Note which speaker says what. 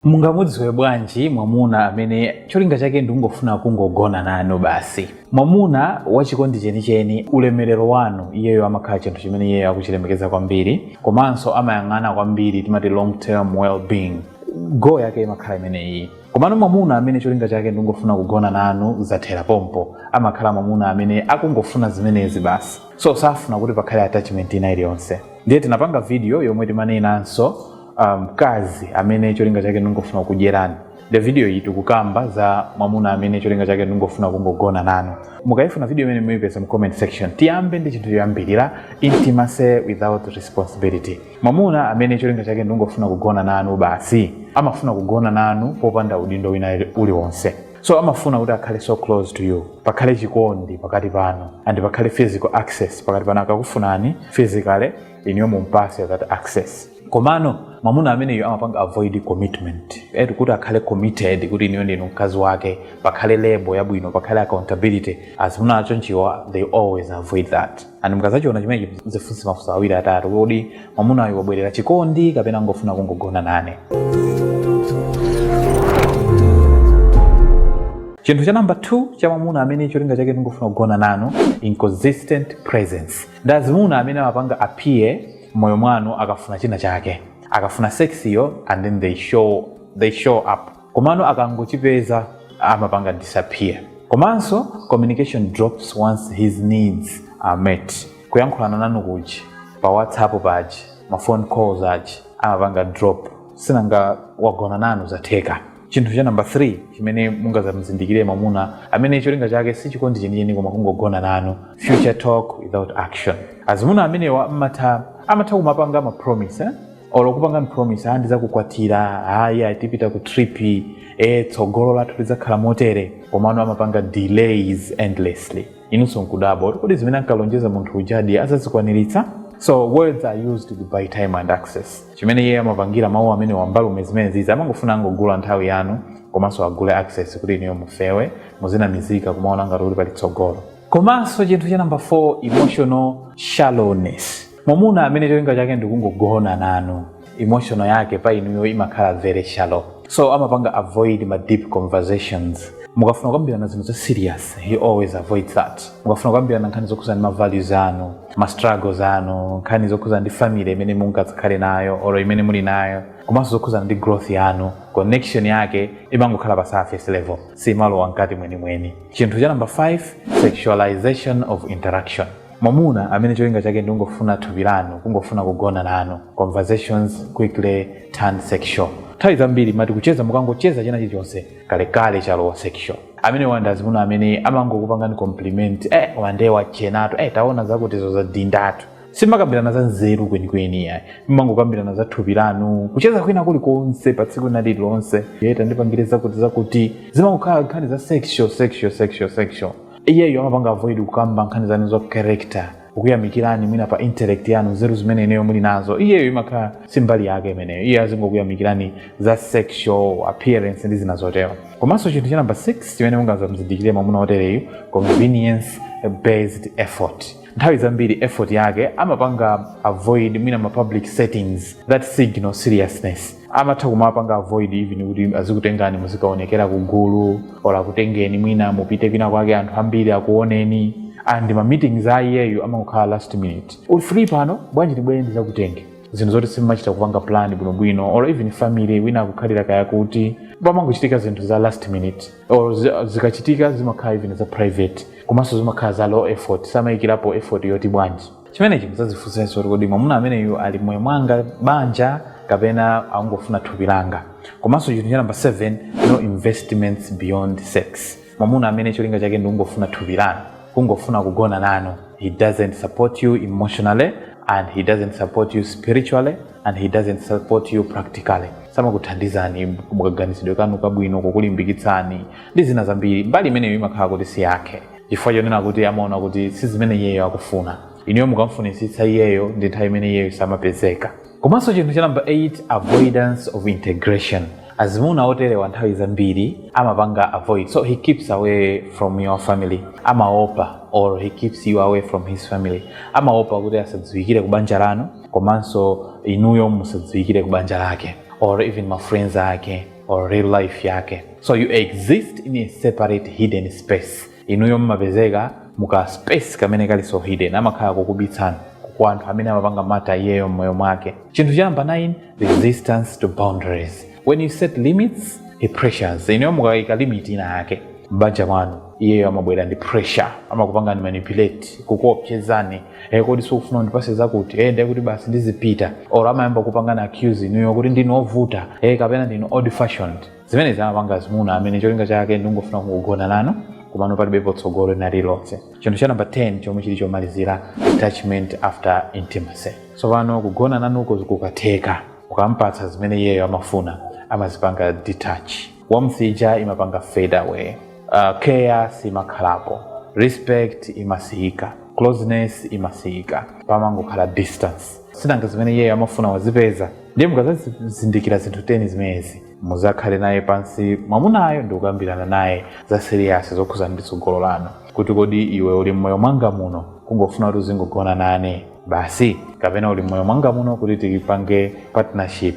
Speaker 1: mungamudziwe bwanji mwamuna amene cholinga chake ndikungofuna kungogona nanu basi mwamuna wachikondi chenicheni ulemerero wanu iyeyo amakhala chinthu chimene iyeyo akuchilemekeza kwambiri komanso amayang'ana kwambiri timati long term well-being goal yake imakhala imeneyi komano mwamuna amene cholinga chake ndikungofuna kugona nanu zathera pompo amakhala mwamuna amene akungofuna zimenezi basi so safuna kuti pakhale attachment ina iliyonse ndiye tinapanga video yomwe timanenanso mkazi um, amene cholinga chake ndingofuna kudyerani the video iyi tikukamba za mwamuna amene cholinga chake ndingofuna kungogona nanu mukayifuna video imene muyipeza mu comment section tiyambe ndi chinthu choyambirira intimacy without responsibility mwamuna amene cholinga chake ndingofuna kugona nanu basi amafuna kugona nanu popanda udindo wina uliwonse so amafuna kuti akhale so close to you pakhale chikondi pakati pano and pakhale physical access pakati pano akakufunani physically inuyo mumpase that access komano mwamuna ameneyo amapanga avoid commitment eti kuti akhale committed kuti inuyo ndinu mkazi wake pakhale label yabwino pakhale accountability azimuna achonchiwa they always avoid that and mukazachiona chimenechi zifunse mafunso awiri atatu kodi mwamunayo wabwerera chikondi kapena ngofuna kungogona nane chinthu cha namba 2 cha mwamuna amene cholinga chake ndingofuna kugona nanu inconsistent presence ndazimuna amene amapanga appear mmoyo mwanu akafuna china chake akafuna sexiyo and then they show up komano akangochipeza amapanga disappear komanso communication drops once his needs are met kuyankhulana nanu kuchani pa whatsapp pachi ma phone calls achi amapanga drop sinanga wagona nanu zatheka chinthu cha namba 3 chimene mungazamuzindikire mwamuna amene cholinga chake si chikondi chenicheni koma kungogona nanu future talk without action azimuna amenewa amatha kumapanga ma promise eh? olo kupanga promise ah ndizakukwatira ayi tipita ku trip e tsogolo lathu lidzakhala motere komano amapanga delays endlessly inunso nkudabwa kuti kodi zimene ankalonjeza munthu ujadi azazikwaniritsa so words are used to buy time and access chimene iye amapangira mawu amenewa mbalume zimenezizi amangofuna angogula nthawi yanu komanso agule access kuti inuyo mufewe muzinamizika kumaona ngati kuti pali tsogolo komanso chinthu cha namba 4 emotional shallowness mwamuna amene cholinga chake ndikungogona nanu emotional yake pa inuyo imakhala very shallow so amapanga avoid ma deep conversations mukafuna kukambirana zinthu za serious he always avoids that mukafuna kukambirana nkhani zokhudzana ndi ma values anu ma struggles anu nkhani zokhudzana ndi family imene mungakhale nayo or imene muli nayo komanso zokhudzana ndi growth yanu connection yake imangokhala pa surface level simalowa mkati mwenimweni chinthu cha number 5 sexualization of interaction mwamuna amene cholinga chake ndi kungofuna thupi lanu kungofuna kugona nanu conversations quickly turn sexual nthawi zambiri mati kucheza mukangocheza china chilichonse kalekale chalowa sexual amene uja ndi azimuna amene amangokupangani compliment eh wa nde wachenatu eh taona zakutizo zadindatu simakambirana za nzeru kwenikweni yayi mmangokambirana za thupi lanu kucheza kwina kulikonse pa tsiku lina lililonse eh tandipangire zakuti zakuti zimangokhala nkhani za sexual sexual sexual sexual iyeyo amapanga avoid kukamba nkhani zanu za character kukuyamikirani mwina pa intellect yanu nzeru zimene ineyo muli nazo iyeyo imakhala si mbali yake imeneyo iye azingokuyamikirani za sexual appearance ndi zina zotero komanso chinthu cha namba 6 chimene mungazamzindikire mwamuna wotereyu convenience based effort nthawi zambiri effort yake amapanga avoid mwina ma public settings that signal seriousness amatha kumapanga avoid even kuti azikutengani muzikaonekera ku gulu or akutengeni mwina mupite kwina kwake anthu ambiri akuoneni and ma meetings a iyeyo amangokhala last minute uli free pano bwanji ndibwere ndizakutenge zinthu zoti simumachita kupanga plan bwinobwino or even family wina akukhalira kaya kuti pamangochitika zinthu za last minute or zi- zikachitika zimakhala even za private komanso zimakhala za low effort samayikirapo effort yoti bwanji chimenechi mudzadzifunsenso kuti kodi mwamuna ameneyu ali mmoyo mwanga banja kapena akungofuna thupi langa komanso chinthu cha namba 7 no investments beyond sex mwamuna amene cholinga chake ndi kungofuna thupi lanu kungofuna kugona nanu he doesn't support you emotionally and he doesn't support you spiritually and he doesn't support you practically samakuthandizani mukaganizidwe kanu kabwino kukulimbikitsani ndi zina zambiri mbali imeneyo imakhala kuti si yake chifukwa chonena kuti amaona kuti si zimene iyeyo akufuna inuyo mukamfunitsitsa iyeyo ndi nthawi imene iyeyo samapezeka komanso chinthu cha namba 8 avoidance of integration azimuna oterewa nthawi zambiri amapanga avoid so he keeps away from your family amaopa or he keeps you away from his family amaopa kuti asadziwikire ku banja lanu komanso inuyo musadziwikire ku banja lake or even ma friends ake or real life yake so you exist in a separate hidden space inuyo mmapezeka mu ka space kamene kali so hidden amakhala kukubitsani kwa anthu amene amapanga matter iyeyo mmoyo mwake chinthu cha namba 9 resistance to boundaries when you set limits he pressures inuyo mukayika limit ina yake m'banja mwanu iyeyo amabwera ndi pressure amakupangani manipulate kukuopsezani e kodi sukufuna kundipasa zakuti e ndiye kuti basi ndizipita or amayamba kupangana accuse inuyo kuti ndinu ovuta e kapena ndinu old fashioned zimenezi amapanga azimuna amene cholinga chake ndingofuna kugona nanu komano palibe potsogolo lina lilonse chinthu cha namba 10 chomwe chili chomalizira detachment after intimacy so pano kugona nanuko kukatheka ukampatsa zimene iyeyo amafuna amazipanga detach warmth ija imapanga fade away care simakhalapo respect imasiyika closeness imasiyika pamangokhala distance sinanga zimene iyeyo amafuna wazipeza ndiye mukazazindikira zinthu 10 zimenezi muzakhale naye pansi mwamunayo ndi kukambirana naye za seriyasi zokhuza ndi tsogolo lanu kuti kodi iwe uli mmoyo mwanga muno kungofuna kuti uzingogona nane basi kapena uli mmoyo mwanga muno kuti tipange partnership